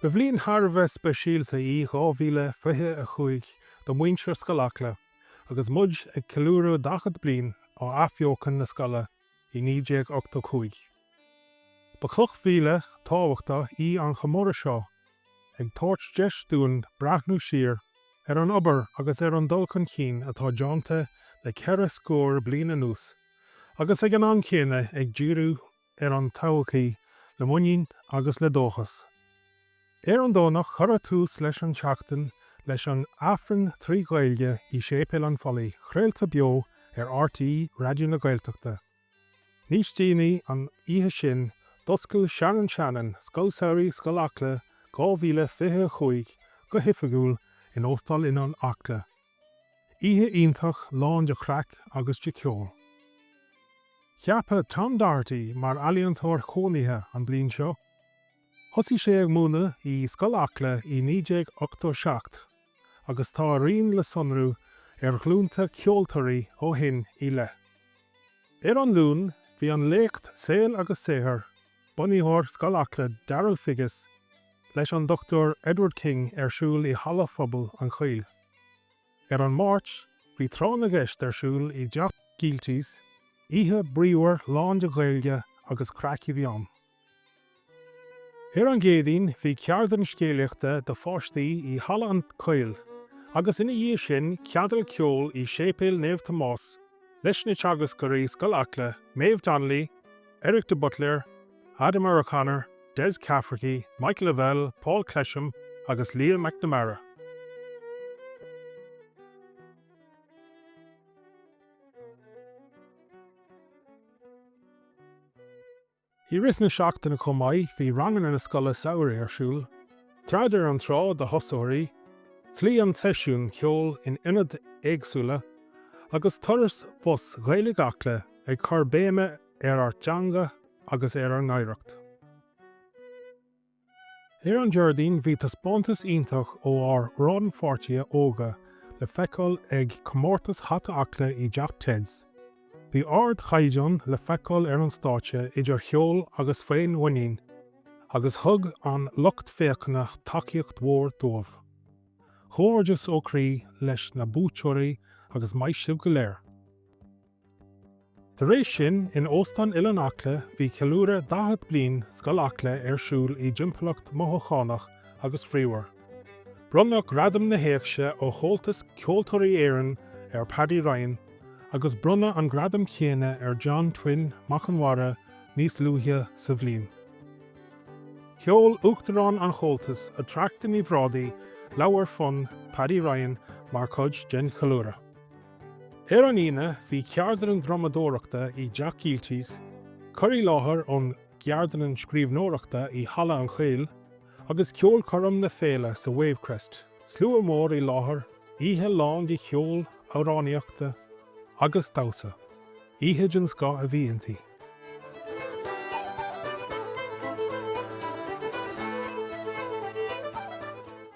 Ba bhliain thar a bheith speisialta í 2025 do mhuintir Scoil Acla agus muid ag ceiliúradh 40 bliain ó athbheochan na scoile i 1985. Ba chloch mhíle thábhachtach í an comóradh seo, ag tabhairt deis dúinn breathnú siar ar an obair agus ar an dul chun cinn atá déánta le ceithre scór bliain anuas agus ag an am céanna ag díriú ar an todhchaí le muinín agus le dóchas. Ar an Domhnach cuireadh tús leis an tseachtain leis an Aifreann trí Ghaeilge i Séipéal an Phollaí, craolta beo ar RTÉ Raidió na Gaeltachta. Níos déanaí an oíche sin d'fhoscail Sharon Shannon Scoil Samhraidh Scoil Acla 2025 go hoifigiúil in Óstán Oileán Acla. Oíche iontach lán de chraic agus de cheol. Ceapadh Tom Doherty mar Ealaíontóir Chónaithe an bliain seo. Thosaigh sé ag múineadh i Scoil Acla i 1987 agus tá a rian le sonrú ar ghlúnta ceoltóirí ó shin i leith. Ar an Luan bhí an léacht Saol agus Saothar Bunaitheoir Scoil Acla, Darrell Figgis, leis an Dr Edward King ar siúl i Halla Phobal an Chaoil. Ar an Máirt bhí Tráth na gCeist ar siúl i dTeach Gielty's. Oíche bríomhar lán de Ghaeilge agus craic a bhí ann. Ar an gCéadaoin bhí ceardlann scéalaíochta do pháistí i Halla an Chaoil agus ina dhiaidh sin ceadal ceoil i Séipéal Naomh Tomás leis na teagascóirí Scoil Acla, Maeve Donnelly, Eric de Buitléir, Ademar O'Connor, Des Cafferkey, Michael Lavelle, Paul Clesham agus Liam McNamara. I rith na seachtaine chomh maith bhí ranganna na scoile samhraidh ar siúl, Trad ar an Trá do thosóirí, Slí an tSeisiúin, ceol in ionaid éagsúla, agus turas bus Ghaeilge Acla ag cur béime ar ár dteanga agus ar ár n-oidhreacht. Ar an Déardaoin bhí taispeántas iontach ó ár rannpháirtithe óga le feiceáil ag Comórtas Hata Acla i dTeach Ted's. Bhí ardchaighdeán le feiceáil ar an stáitse idir cheol agus féinmhuinín agus thug an lucht féachana tacaíocht mhór dóibh. Comhghairdeas ó chroí leis na buaiteoirí agus maith sibh go léir! Tar éis sin, in Óstán Oileán Acla bhí ceiliúradh 40 bliain Scoil Acla ar siúl i dtimpeallacht mothúchánach agus bhríomhar. Bronnadh Gradam na hÉigse ó Chomhaltas Ceoltóirí Éireann ar Paddy Ryan agus bronnadh an gradam chéanna ar John Twin McNamara níos luaithe sa bhliain. Sheol Uachtarán an Chomhaltais, Attracta Ní Bhrádaigh leabhar fonn Paddy Ryan mar chuid den cheiliúradh. Ar an Aoine bhí ceardlann drumadóireachta i dTeach Gielty's, cur i láthair ón gceardlann scríbhneoireachta i Halla an Chaoil, agus ceolchoirm na féile sa Wavecrest. Slua mór i láthair, oíche lán de cheol, amhránaíochta agus damhsa. Oíche den scoth a bhí inti.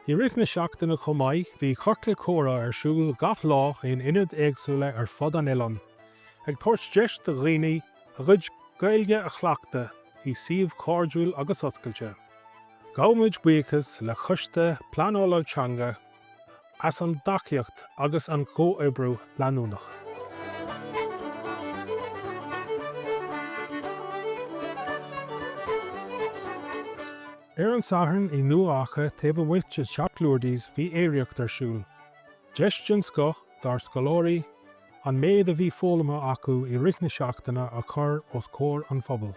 I rith na seachtaine chomh maith bhí Ciorcal Comhrá ar siúl gach lá in ionaid éagsúla ar fud an oileáin, ag tabhairt deis do dhaoine a gcuid Gaeilge a chleachtadh i suíomh cairdiúil agus oscailte. Gabhaimid buíochas le Choiste Pleanála Teanga. as an dtacaíocht agus an comhoibriú leanúnach. Ar an Satharn i nDumha Acha taobh amuigh de Theach Lourdes bhí aeraíocht ar siúl. Deis den scoth dár scoláirí an méid a bhí foghlamtha acu i rith na seachtaine a chur os comhair an phobail.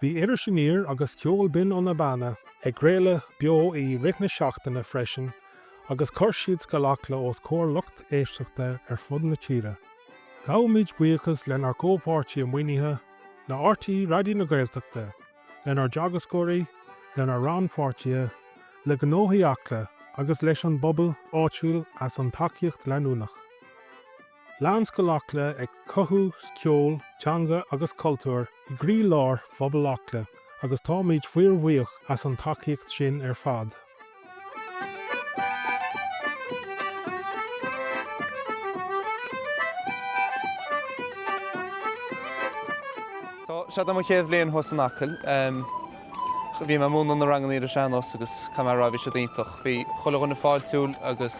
Bhí Iris Aniar agus Ceol Binn ó na Beanna ag craoladh beo i rith na seachtaine freisin agus chuir siad scoil Acla os comhair lucht éisteachta ar fud na tíre. Gabhaimid buíochas lenár gcomhpháirtithe maoinithe, le rte Raidió na Gaeltachta, lenár dteagascóirí, lenár rannpháirtithe, le Gnóthaí Acla agus leis an bpobal áitiúil as an tacaíocht leanúnach. Lean Scoil Acla ag cothú ceol, teanga agus cultúr i gcroílár phobal Acla agus táimid fíorbhuíoch as an tacaíocht sin ar fad. Seo do mo chéad bhliain thuas in Acaill. Bhí mé ag múineadh na ranganna ar an sean-nós agus caithfidh mé a rá, bhí siad iontach. Bhí chuile dhuine fáiltiúil agus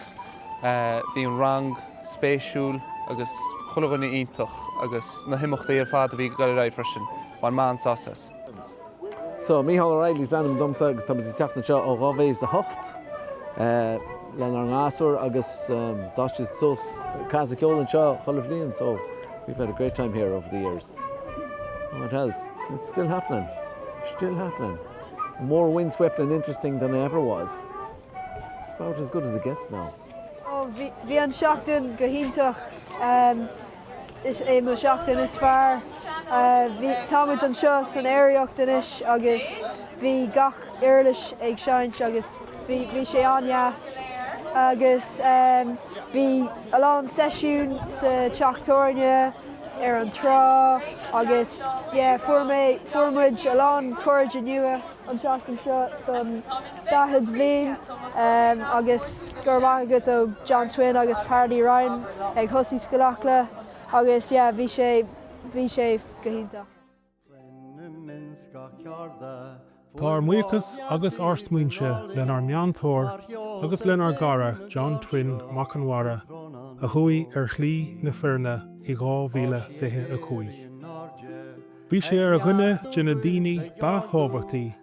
bhí an rang spéisiúil agus chuile dhuine iontach agus na himeachtaí ar fad a bhí ag dul ar aghaidh freisin, bhain mé an-sásamh as. So, Mícheál Ó Raghallaigh is ainm domsa agus táimid ag teacht anseo ó 2008 lenár ngasúir agus d'fhás siad suas, casadh ceol anseo chuile bhliain so we've had a great time here over the years. What else? It's still happening. Still happening. More windswept and interesting than I ever was. It's about as good as it gets now. Ó, bhí, bhí an seachtain go hiontach. Ehm, is é mo seachtain is fearr. Eh, bhí, tá muid anseo san aeraíocht anois agus bhí gach uirlis ag seinnt agus bhí, bhí sé an-dheas. Agus, ehm, bhí a lán seisiún sa teach tábhairne. ar an trá agus yeah fuair mé, fuair muid a lán cairde nua an tseachtain seo don daichead bhliain agus go raibh maith agat ó John Twin agus Paddy Ryan a thosaigh Scoil Acla agus yeah bhí sé, bhí sé go hiontach. Tá ár mbuíochas agus ár smaointe lenár meantóir agus lenár gcara John Twin Mac Conmara a chuaigh ar shlí na fírinne i 2025. Bhí sé ar dhuine de na daoine ba thábhachtaí